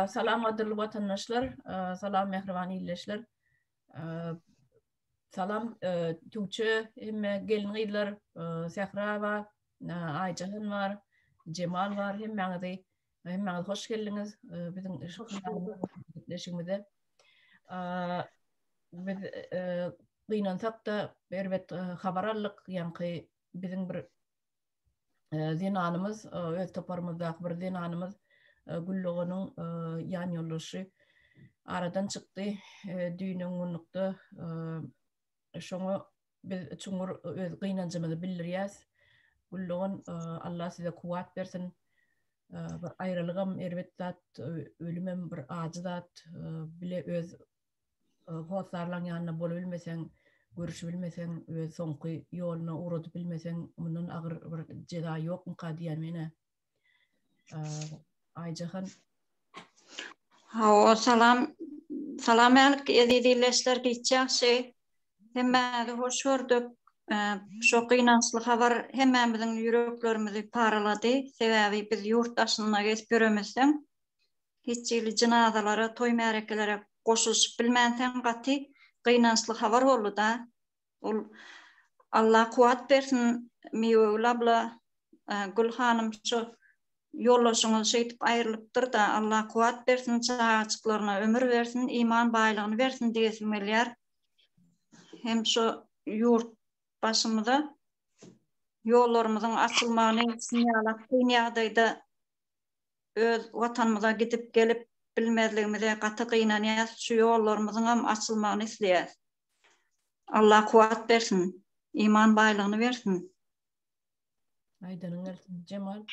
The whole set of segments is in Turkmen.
Salam gadyrly watandaşlar, salam mähriban ildeşler. Salam Tuwçe, hemme gelin-gyzlar, Sähra bar, Aýjahan bar, Jemal bar, hemmäňizi, hemmäňiz hoş geldiňiz biziň gepleşigimize. Biz gynansak-da, erbet habar aldyk, ýaňky biziň bir zenanymyz, öz toparymyzdaky bir zenanymyz Gülluganyň ýan ýoldaşy aradan çykdy. Düýn ongunlukda şoňa biz çuňňur öz gynanjymyzy bildirýäs. Güllugan Allah size kuwwat bersin. Bir aýralygam erbet zat, ölümem bir ajy zat. Bile öz hossarlaň ýanyna bola bilmeseň, görüşip bilmeseň, öz soňky ýoluna ugradyp bilmeseň, mundan agyr bir jeza ýokmyka diýýän men-ä. Aýjahan. Hawa, salam. Salam ähli eziz illeşler, hiç ýagşy. Hemmäňizi hoş gördük. Şu gynançly habar hemmämiziň ýüreklerimizi paralady. Sebäbi biz ýurt daşynda gezip ýöremizden, hiç hili jynazalara, toý-märekelere goşulyşyp bilmänseň gaty gynançly habar boldy-da. Ol Allah kuwwat bersin Miwegül abla, Gül hanym şu ýoldaşyňyz şeýdip aýrylypdyr-da Allah kuwwat bersin çagajyklaryna ömür bersin iman baýlygyny bersin diýesim gelýär. Hem şu ýurt başymyza ýollarymyzyň açylmagyny şuny ýalak kyn ýagdaýda öz Watanymyza gidip gelip bilmezligimize gaty gynanýas şu ýollarymyzyňam açylmagyny isleýäs. Allah kuwat bersin. Iman baýlygyny bersin. Aýdanyň gelsin. Jemal.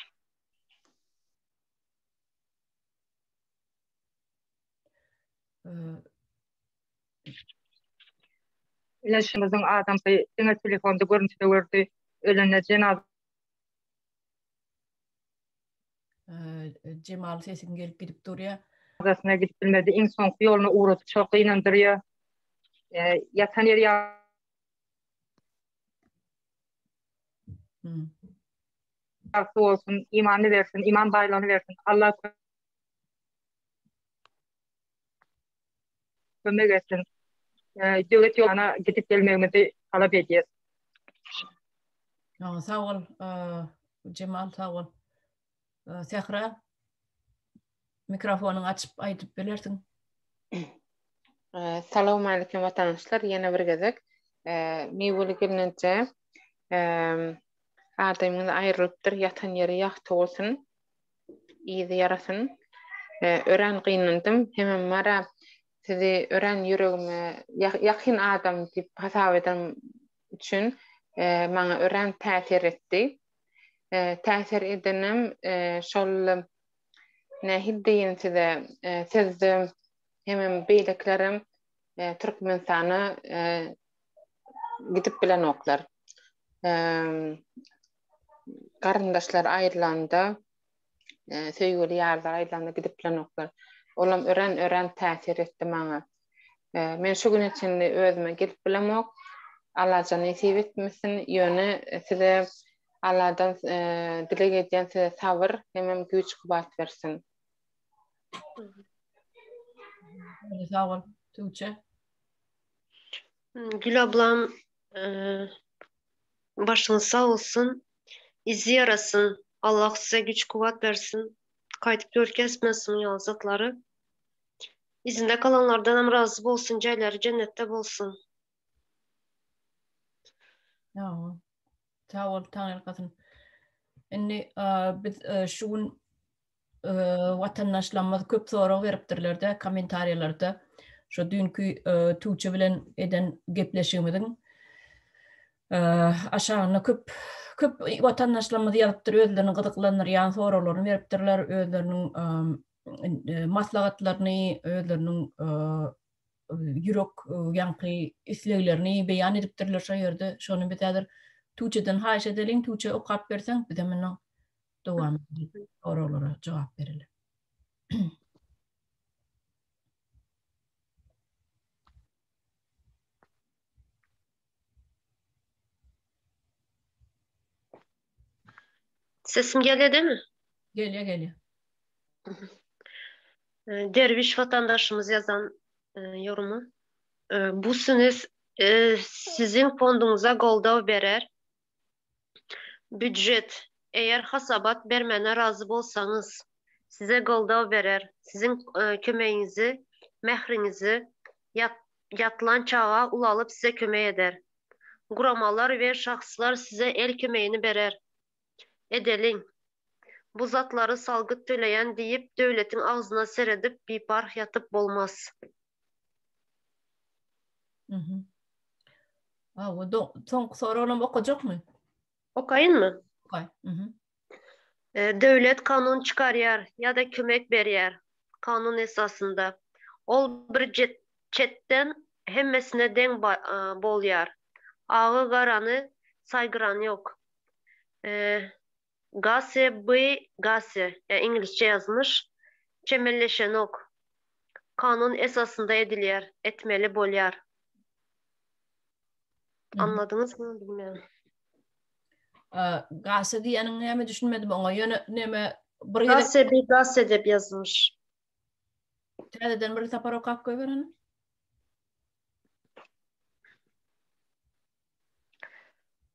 Leşimiziň adamsy diňe telefonda görnüşde gördi. Ölende jenazasy. Jemal sesiň gelip gidip durýar. Adasına gidip bilmedi. Iň soňky ýoluna ugrady. Çok ynandyrýar. E, yatan ýeri ýa... Ýagty bolsun, imanly bersin, iman baýlygyny bersin. Allah kömek etsin. Döwlet ýoluna gidip gelmegimizi talap edýäs. Sag bol, Jemal, sag bol. Sähra, mikrofonyňy açyp aýdyp bilersiň. Salowmalikim watandaşlar, ýene bir gezek Miweli gelneje adamyňyz aýrylypdyr, ýatan ýeri ýagty bolsun. yzy ýarasyn. Örän gynandym. Hemem Mara sizi örän ýüregime ýakyn adam diýip hasap eden üçin maňa örän täsir etdi. Täsir edenem şol nähili diýen size sizde hemem beýlekilerem Türkmenistana gidip bilenoklar. garyndaşlar aýrylanda, söýgüli ýarlar aýrylanda gidip bilenoklar. Olam örän-örän täsir etdi maňa. Men şu güne çenli özüme gelip bilemok. Allajan nesip etmesin, ýöne size Alladan dileg edýän size sabyr hemem güýç-kuwwat bersin. Sag bol, Tüwçe. Gül ablam Başyňyz sag bolsun. Yzy ýarasyn. Allah size güç kuwwat bersin. Gaýdyp görkezmesin şunuň ýaly zatlary. Yzynda galanlardanam razy bolsun jaýlary jennetde bolsun. Ýa. Sag bol taňyrkasyn. Indi biz şu gün watandaşlarymyz köp sorag beripdirlerde kommentariýalarda şu dünkü Tuğçe bilen eden gepleşigimiziň aşagynda köp köp watandaşlarymyz ýazypdyr özlerini gyzyklandyrýan soraglaryny beripdirler özleriniň maslahatlaryny özleriniň ýürek e, ýaňky isleglerini beýan edipdirler şo ýerde. Şony biz häzir Tuçeden haýyş edeliň, Tuçe okap berseň, bize munuň dowamynda soraglara jogap beriler. Sesim gelýämi? Gelýär, gelýär. Derwiş watandaşymyz ýazan e, ýorumy. E, bu sünis e, siziň fonduňyza goldaw berer. Býujet, eger hasabat bermäne razy bolsaňyz, size goldaw berer, siziň kömegiňizi, mähriňizi ýatlan çaga ulalyp size kömek eder. Guramalar we şahslar size el kömegini berer. Edeliň. Bu zatlary salgyt töleýän diýip döwletiň agzyna seredip biparh ýatyp bolmaz. Awa, do, soňky soragyny okajakmy? Okaýynmy? Okaý. Mhm. E, döwlet kanun çykarýar ýa-da kömek berýär kanun esasynda. Ol bir jet, çetden hemmesine deň ba, e, bolýar. Agy garany saýgyran ýok. E, Gase by Gase, ýa iňlisçe ýazmyş, çemeleşenok, kanun esasynda edilýär, etmeli bolýar. Anladyňyzmy bilmeýän. Gase diýeniň näme düşünmedim oňa, ýöne näme bir gezek. Gase by Gase dep ýazmyş. Täzeden bir sapar okap goýberin.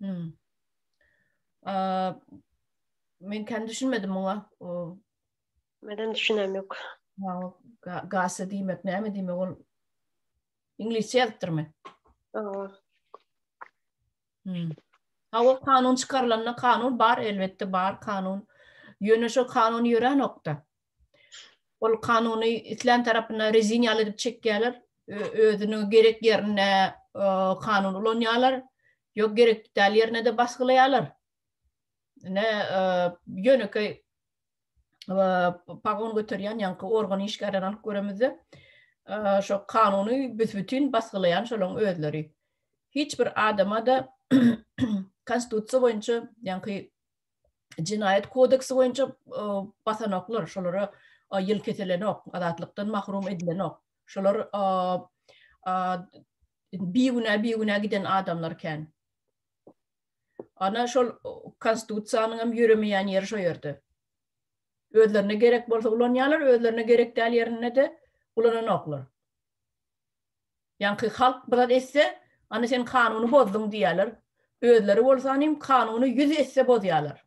Hmm. Aa, men kendi düşünmedim muňa. O, Meden düşünem yok. ha, o ga- gasa diýmek näme diýmek ol iňlisçe ýazypdyrmy? Aa, Hmm. Ha o kanun çykarylanda kanun bar elbetde bar kanun. Ýöne şo kanun ýörenokda. Ol kanuny islän tarapyna rezin ýaly edip çekýärler. Özüniň gerek ýerinde kanun ulanýarlar. Ýok gerek däl ýerine de basgylaýarlar. Ne ýönekeý pagon göterýän ýaňky organ işgärlerini alyp göremizde, şo kanuny büs-bütin basgylaýan şolaryň özleri. Hiç bir adama-da konstitusiýa boýunça ýaňky Jenaýat kodeksi boýunça basanoklar, şolara ýyl kesilenok, azatlykdan mahrum edilenok. Şolar bigünä bigünä giden adamlar kän. Ana şol konstitusiýanyň hem ýöremeýän ýeri şo ýerde. Özlerine gerek bolsa ulanýarlar, özlerine gerek däl ýerinde-de ulananoklar. Ýaňky halk biraz esse, Ana sen kanuny bozduň diýýärler. Özleri bolsa hanym kanuny ýüz esse bozýarlar.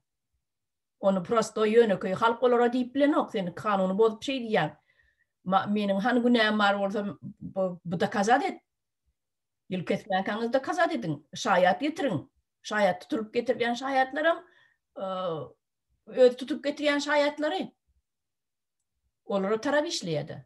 Ony prostoý ýönekeý halk olara diýip bilenok, sen kanuny bozup şeý diýýäň. Meniň hany günäm bar bolsa bu dokazat et. Ýyl kesmänkäňiz dokazat ediň. Şaýat getiriň. Şaýat tutulyp getirilýän şaýatlaram öz tutup getirýän şaýatlary. Olara tarap işleýärdi.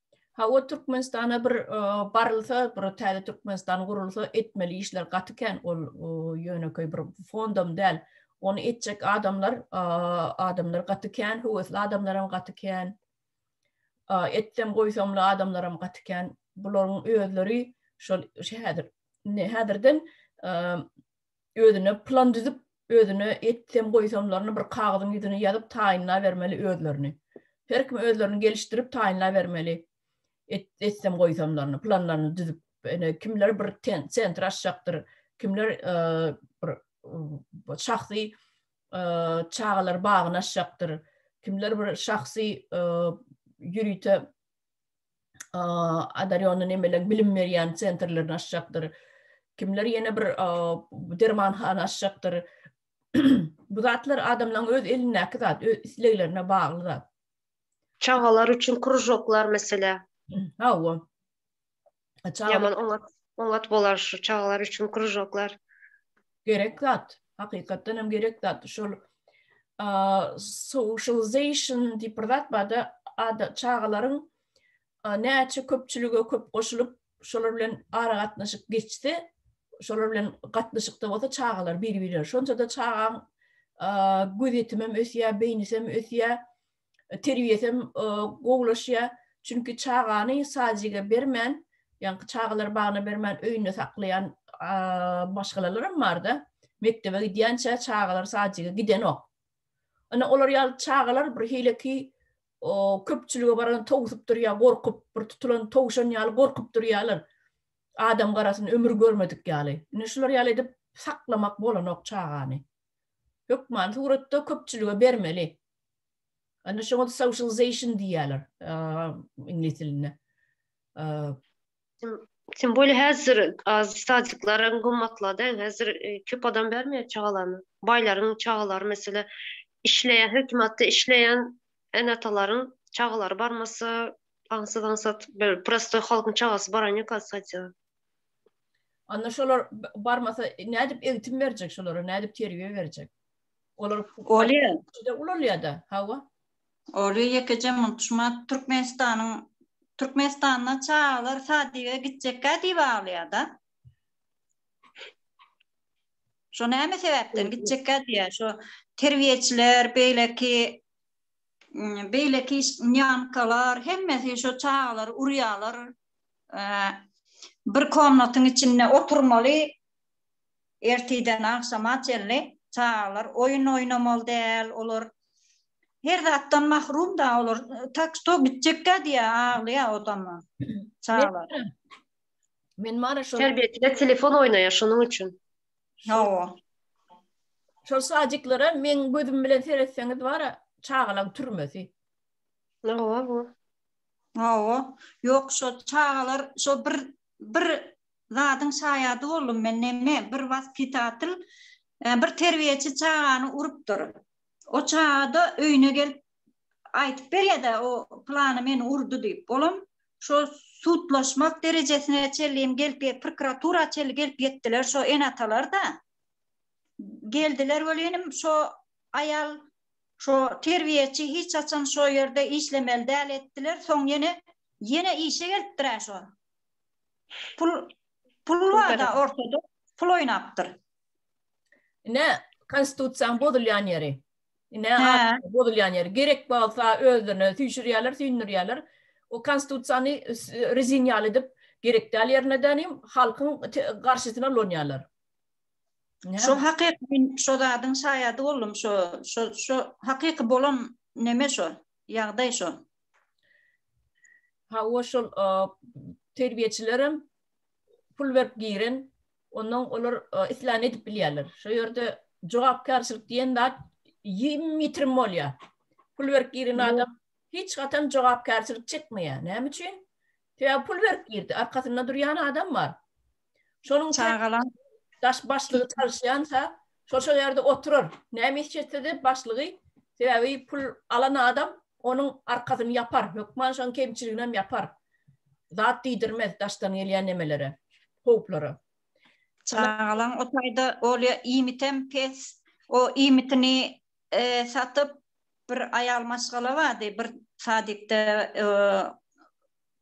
Ha o Türkmenistana bir barylsa, bir täze Türkmenistan gurulsa, etmeli işler gaty kän, ol ýönekeý bir fondam däl. Ony etjek adamlar, adamlar gaty kän, höwesli adamlar hem gaty kän. Etsem goýsamly adamlar hem gaty kän. Bularyň özleri şol şu häzir ne häzirden özüne plan düzüp, özüne etsem goýsamlaryny bir kagyzyň ýüzüne ýazyp taýynlabermeli özlerini. Her kim özlerini gelişdirip taýynlabermeli etsem goýsamlaryny, planlaryny düzüp. Ene kimler bir sentr açjakdyr, kimler bir şahsy çagalar bagyny açjakdyr, kimler bir şahsy ýörite Adarýonda nemeler bilim berýän sentrlerini açjakdyr. Kimler ýene bir dermanhana açjakdyr. Bu zatlar adamlaryň öz elindäki zat, öz isleglerine bagly zat. Çagalar üçin krujoklar meselä. Hawa. Ýaman oňat, oňat bolar şu çagalar üçin krujoklar. Gerek zat, hakykatdan hem gerek zat. Şol socialization diýip bir zat barda ada çagalaryň näçe köpçülige köp goşulyp, şolar bilen ara gatnaşyk geçse, şolar bilen gatnaşykda bolsa çagalar bir-birine. Şonça-da çagaň gözetimi hem ösýär, beýnisi hem ösýär. terbiýesi hem gowulaşýar. Çünki çagany sadiga bermän, ýaňky çagalary bagyna bermän öýünde saklaýan maşgalalaram barda. Mekdebe gidýänçä çagalar sadiga gidenok. Ine olar ýaly çagalar bir hileki köpçülige baran towsup durýar, gorkup, bir tutulan towşan ýaly gorkup durýarlar. Adam garasyny ömür görmedik ýaly. Ine şular ýaly edip saklamak bolanok çagany. Hökmany suratda köpçülige bermeli. Ana şoňa socialization diýýärler iňlis dilinde. Sen böyle häzir az sadyklaryň gymmatlady. Häzir e, köp adam bermeýär çagalaryny. Baýlaryň çagalary mesela işleýän, hökümetde işleýän ene-atalaryň çagalary barmasa, aňsat aňsat bir prostoý halkyň çagasy baran ýok sadýa. Onda şolar barmasa nädip eğitim berjek şolara, nädip terbiýe berjek? Olar Olýa. Şeýle ulanýar-da, hawa. Olýa ýekeje munçma Türkmenistanyň Türkmenistanda çagalar sadyga gitjekkä diýip aglaýar-da. Şo näme sebäpden gitjekkä diýýär, şo terbiýeçiler, beýleki beýleki nýankalar hemmesi şo çagalary urýarlar. Bir komnatyň içinde oturmaly. Ertirden agşama çenli çagalar oýun oýnamaly däl, olar her zatdan mahrum da olar, tak što gitjekka diýä, aglaýa odama çagalar. Men mara şol. Terbiýeçiler telefon oýnaýa şonuň üçin. Hawa. Şol sadiklara meň gözüm bilen seretseňiz bara çagalaň türmesi. Hawa bu. Hawa. Ýok şo çagalar şo bir bir zadyň şaýady boldum men neme bir waspitatyl bir terbiýeçi çagany urupdyr o çagada öýüne gelip aýdyp berýädä o plany meni urdy diýip olam şo sudlaşmak derejesine çelliyim gelip prokuratura çelli gelip ýetdiler şo ene atalar da geldiler welin şo aýal şo terbiýeçi hiç haçan şo ýerde işlemeli däl etdiler soň ýene ýene işe gelipdir şo Pul pul barda ortada pul oýnapdyr. Ine konstitusiýanyň bozulýan ýeri. Ine bozulýan ýeri. Gerek bolsa özlerine süýşürýärler, süýndürýärler. O konstitusiýany rezin ýaly edip gerek däl ýerine dänim halkyň garşysyna ulanýarlar. Şo hakyky şo zadyň şaýady boldum şo şo şo hakyky bolan neme şo ýagdaý şo. Hawa şol terbiýeçilerem pul berip giren, ondan olar islän edip bilýärler. Şu ýerde jogapkärçilik diýen zat ýim ýitirim bolýar. Pul berip giren adam hiç haçan jogapkärçilik çekmeýär. Näme üçin? Sebäbi pul berip girdi, arkasynda durýan adam bar. Şonuň üçin daş başlygy çalyşýança, şo-şo ýerde oturar. Näme iş etse-de başlygy, sebäbi pul alan adam onuň arkasyny ýapar, hökman şonuň kemçiliginem ýapar. Zat diýdirmez daşdan gelýän nemelere, howplara. Çagalaň o taýda bolýa, iýmitem pes. O iýmitini satyp, bir aýal maşgala bardy, bir sadikde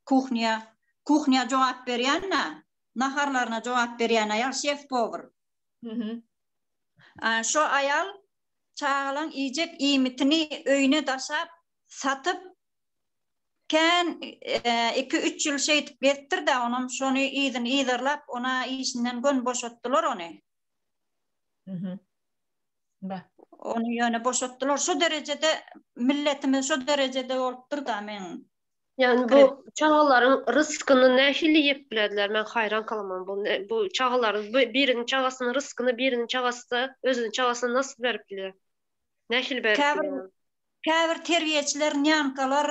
Kuhnýa, kuhnýa jogap berýän-ä, naharlaryna jogap berýän aýal şef-powr. Hü-hü. A, şo aýal çagalaň iýjek iýmitini öýüne daşap, satyp, kän iki-üç ýyl şeýdip gezipdir-dä, onam şony yzyny yzarlap, ona işinden göni boşatdylar ony. Hü-hü. Ba. Ony ýöne boşatdylar. Şo derejede, milletimiz şo derejede bolupdyr-da, men. Ýani bu çagalaryň ryskyny nähili ýep bilerdiler men haýran kalaman bu bu çagalaryň biriniň çagasynyň ryskyny biriniň çagasy özüniň çagasyna nasl berip biler. Nähili berip biler. Käbir terbiýeçiler nýankalar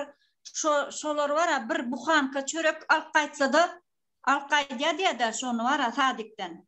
şo şolar bar a bir buhanka çörek alyp gaýtsada alyp gaýdýa diýada şony bar a sadikden.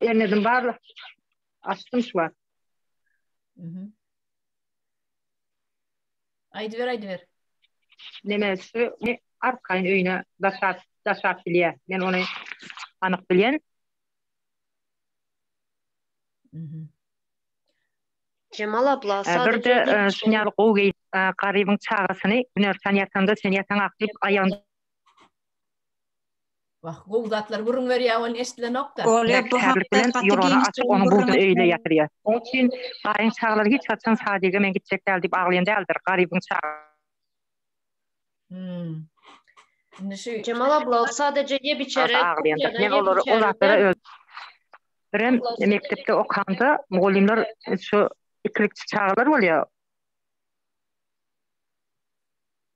Ernedim barla. Açtım şu var. Mhm. Aýdy ber, aýdy ber. Neme şu ne arkayın öyüne daşap daşap bilýär. Men onu anyk bilýän. Mhm. Jemal abla Ee, Bir de e, şu ýaly gowy geýip e, garybyň çagasyny günersan ýatanda sen ýataň ak diýip aýagyny Wah, gowy zatlar gürrüň berýär welin eşdilenok-da. Oler bu hakda gaty giňiş gürrüň berýärler. Oň üçin Gaýyň çagalary hiç haçan sadege men gitjek däl diýip aglaýan däldir. Garybyň çagalary. Hum. Indi şu. Jemal abla, ol sadaje ýep-içere. Aglaýandyr. Men olary ol zatlara öz. Birem mekdepde okanda mugallymlar şu ikilikçi çagalar bolýar.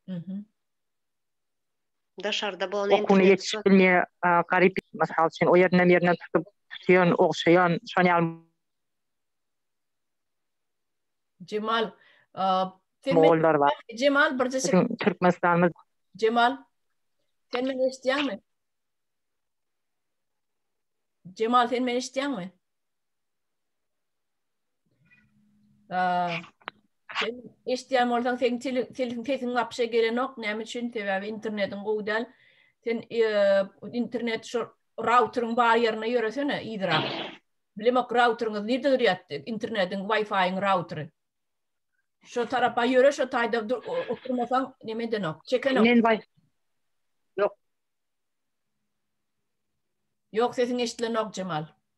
Mhm. Daşarda bol Okuny ýetişip bilmeýän garyp mysal üçin o ýerinden ýerinden tutup tutýan ogşaýan şon ýaly Jemal mogollar bar. Jemal birje çekin. Türkmenistanymyz. Jemal. Sen meni eşitýäňmi? Jemal sen meni eşitýäňmi? Sen eşitýän bolsaň, seň telefon sesiň wapşe gelenok. Näme üçin? Sebäbi internetiň gowy däl. Sen e, internet şu routeryň bar ýerine ýöresene yzrak. Bilemok routeryňyz nirde durýatdy? Internetiň Wi-Fi-iň routery. Şu tarapa ýöre, şu taýda oturmasaň, näme edenok? Çekenok. Men Wi-Fi. Ýok. Ýok, sesiň eşitlenok, Jemal.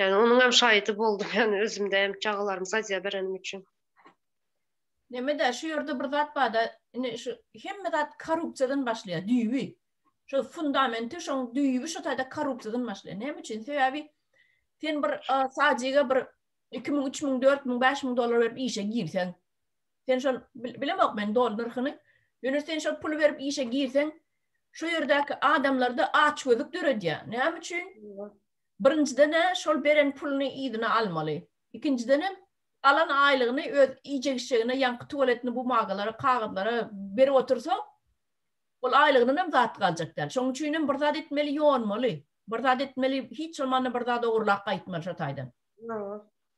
Ýani onuň hem şaýydy boldum ýani özümde hem çagalarymy sazyýa berenim üçin. Nemede şu ýerde bir zat barda indi şu hemme zat korrupsiýadan başlaýar düýbi. Şu fundamenti şoň düýbi şu taýda korrupsiýadan başlaýar. Näme üçin? Sebäbi sen bir sazyýa bir 2000, 3000, 4000, 5000 dollar berip işe girseň, sen şol bilemok men dollar nyrhyny. Ýöne sen şol pul berip işe girseň, şu ýerdäki adamlarda aç gözük döredýär. Näme üçin? Birinjiden-ä şol beren puluny yzyna almaly. Ikinjidenem alan aýlygyny öz iýjek-içjegine, ýaňky tuwaletini bumagalara, kagyzlara berip otursa, ol aýlygyndanam zat galjak däl. Şonuň üçinem bir zat etmeli, ýonmaly. Bir zat etmeli, hiç bolmanda bir zat ogurlap gaýtmaly şo taýdan.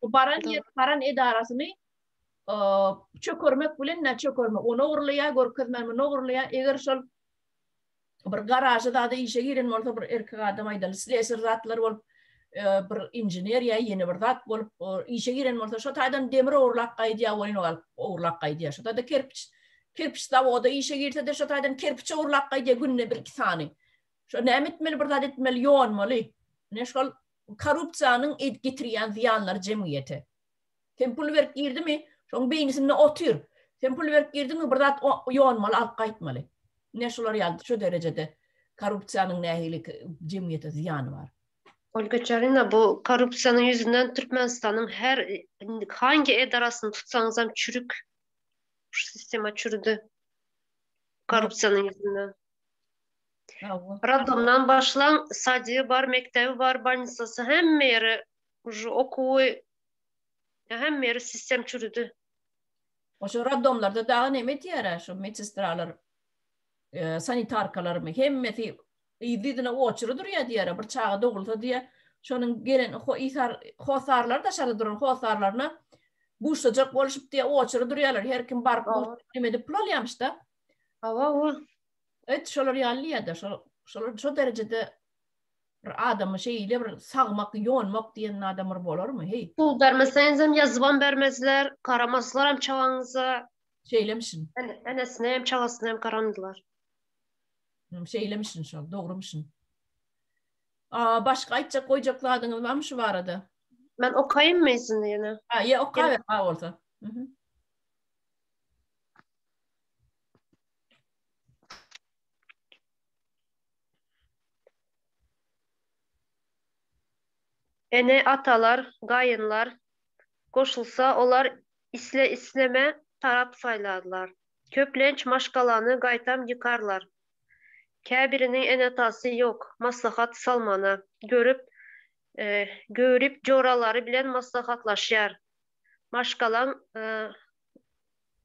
Bu baran ýer, baran edarasyny çökermek bilen-ä çökermek. Ony ogurlaýar, görkezmän muny ogurlaýar. Eger şol bir garaja zada işe giren bolsa bir erkek adam aýdaly sleser zatlar bolup bir injener ýa ýene bir zat bolup işe giren bolsa şo taýdan demir ogurlap gaýdýa oýun galyp ogurlap gaýdýa şo taýda kerpiç kerpiç zawoda işe girse de şo taýdan kerpiç ogurlap gaýdýa günde bir iki sany şo näme etmeli bir zat etmeli ýonmaly ne şol korrupsiýanyň getirýän zyýanlary jemgyýete Sen pul berip girdimi? Şoň beýnisinde otyr. Sen pul berip girdiňmi? Bir zat ýonmaly, alyp gaýtmaly. Ne şular ýaly şu derejede korrupsiýanyň nähili jemgyýete zyýany bar? Olga Çarina, bu korrupsiýanyň ýüzünden Türkmenistanyň her hangi edarasyny tutsaňyzam çürük. Şu sistema çürüdi. Korrupsiýanyň ýüzünden. Roddomdan başlaň, sadygy bar, mekdebi bar, bannisasy hemme ýere Uje okuwy näham beri sistem çürüdi. Oşo roddomlarda dagy neme etýärä şu medsestralar, sanitarkalarmy hemmesi yzdy-yzyna oçury durýa diýýärä bir çaga dogulsa diýýä şonuň gelen hossarlary daşarda duran hossarlaryna buşlajak boluşyp diýýä oçury durýalar her kim baryp neme edip pul alýamyşda. Hawa-hawa. Et şolar ýaly diýýä-de şolar şo derejede Bir adamy şeýle bir sagmak, ýonmak diýen adam bir bolarmy, heý? Pul bermeseňizem ýazybam bermezler, garamaslarem çagaňyza. Şeýlemişin. Enesinem, çagasynam garamadylar. Hum, şeýlemişin şol, dogrumişin. Aa, başga aýtjak, goýjak zadyňyz barmy şu barada? Men okaýynmy ýüzüni ýene? Ha, ýe, oka ber, ha bolsa. Mhm. Ene-atalar, gaýynlar goşulsa, olar isle-isleme tarap saýlarlar. Köplenç maşgalany gaýtam ýykarlar. Käbiriniň ene-atasy ýok, maslahat salmana görüp, göwrüp joralary bilen maslahatlaşýar. Maşgalaň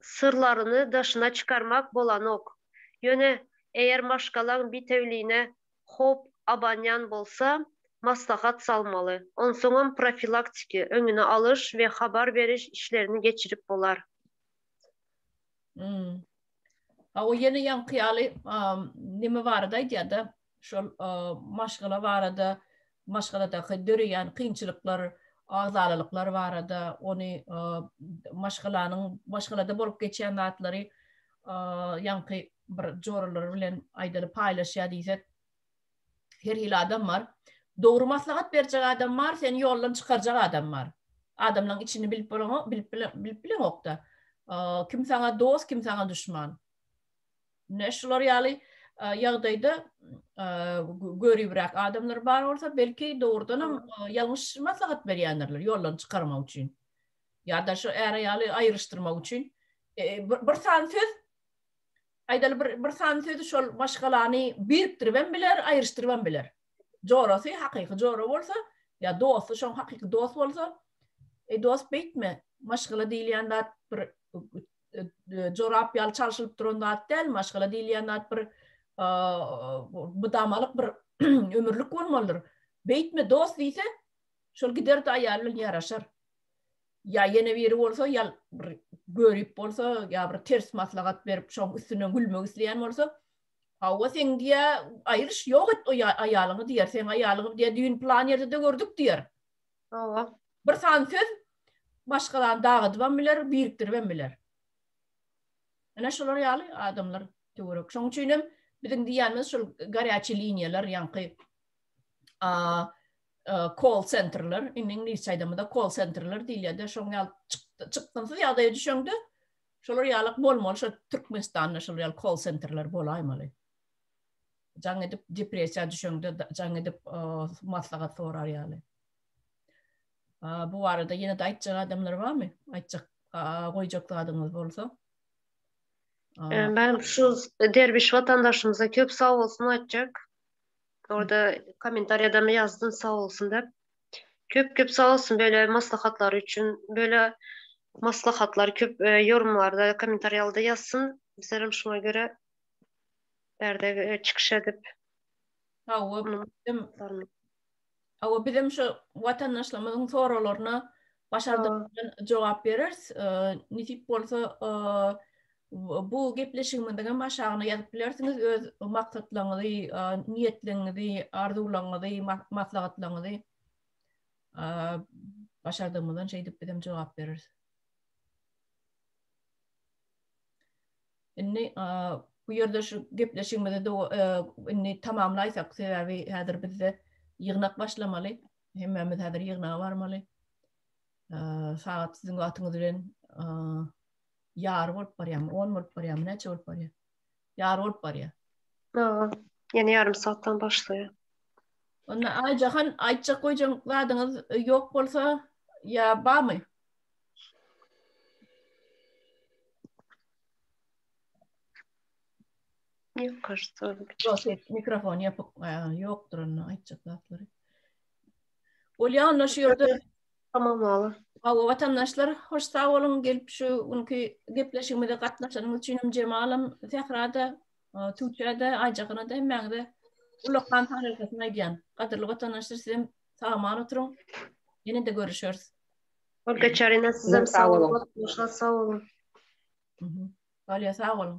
syrlaryny daşyna çykarmak bolanok. Ýöne eger maşgalaň bitewüline howp abanýan bolsa, maslahat salmaly. Onsoňam profilaktiki, öňüni alyş we habar beriş işlerini geçirip bolar. Ýa o ýene ýaňky ýaly neme barada aýdýar-da, şol maşgala barada, maşgaladaky döreýän kynçylyklar, agzalalyklar barada, ony maşgalanyň, maşgalada bolup geçýän zatlary ýaňky bir joralar bilen aýdaly paýlaşýar diýsek, her hili adam bar. Dogry maslahat berjek adam bar, seni ýoldan çykarjak adam bar. Adamlaryň içini bilip bolanok, bilip bileňok-da. Kim saňa dost, kim saňa duşman. Ine şular ýaly ýagdaýda göribräk adamlar bar bolsa, belki dogrudan hem ýalňyş maslahat berýändirler ýoldan çykarmak üçin. Ýa-da şu äre ýaly aýryşdyrmak üçin bir san söz aýdaly bir bir san sözi şol maşgalany birikdirip hem biler, aýryşdyryp hem biler. Jorasy hakyky jora bolsa, ýa dosty şoň hakyky dost bolsa, e dost beýtme, maşgala diýilýän zat bir jorap ýaly çalşylyp duran zat däl, maşgala diýilýän zat bir mydamalyk bir ömürlik bolmalydyr. Beýtme dost diýse, şol gider-de aýaly bilen ýaraşar. Ýa ýene biri bolsa, ýa bir görip bolsa, ýa bir ters maslahat berip, şoň üstünden gülmek isleýän bolsa, Hawa, seň diýe aýryş ýok et o aýalyňy diýer, seň aýalyňy diýe düýn plan ýerde-de gördük diýer. Hawa. Bir sany söz maşgalany dagadybam biler, birikdiribem biler. Ene şolar ýaly adamlar töwerek. Şoň üçinem biziň diýýänimiz şol garýaçy liniýalar, ýaňky a call centerler, indi iňlis aýdamyda call centerler diýilýär-de, şoň ýaly çykgynsyz ýagdaýa düşeňde, şolar ýaly bolmaly, şo Türkmenistanda şol ýaly call centerler bolaýmaly. jaň edip depressiýa düşeňde jaň edip maslahat sorar ýaly. Bu barada ýene de aýtjak adamlar barmy? Aýtjak, goýjak zadyňyz bolsa. Ben şu derbiş vatandaşymyza köp sag bolsun aýtjak. Orada kommentariýada mı ýazdyn sag bolsun dep. Köp köp sag bolsun böyle maslahatlar üçin. Böyle maslahatlar köp e, yorumlarda, kommentariýalda ýazsyn. Bizler hem şuna göre Bärde çykyş edip. Hawa, biziň Hawa, biziň şu watandaşlarymyzyň soraglaryna başardygymyz jogap bereris. Nesip bolsa, bu gepleşigimiziň hem aşagyna ýazyp bilersiňiz öz maksatlaryňyzy, niýetleriňizi, arzuwlaryňyzy, maslahatlaryňyzy. Başardygymyzdan şeýdip biz hem jogap bereris. Indi bu ýerde şu gepleşigimizi indi tamamlaýsak, sebäbi häzir bizde ýygnak başlamaly. Hemmämiz häzir ýygnaga barmaly. Sagat siziň wagtyňyz bilen ýar bolup barýarmy, on bolup barýarmy, näçe bolup barýar? Ýar bolup barýar. Ýa, ýene ýarym sagatdan başlaýar. Onda Aýjahan aýtjak goýjak zadyňyz e, ýok bolsa ýa barmy? Mikrofon ýapyk, ýokdur onda aýtjak zatlary. Bolýa onda şu ýerde. Tamam bala. Hawa, watandaşlar, hoş sag boluň gelip şu günki gepleşigimize gatnaşanyňyz üçin hem Jemalam, Sähra-da, Tuwçä-de, Aýjahana-da hemmäňize ullakan sag bolsun aýdýan. Gadyrly watandaşlar sizem sag-aman oturyň. Ýene-de görüşeris. Olga Çarina sizem sag boluň. Goşga sag boluň. Galýa sag boluň.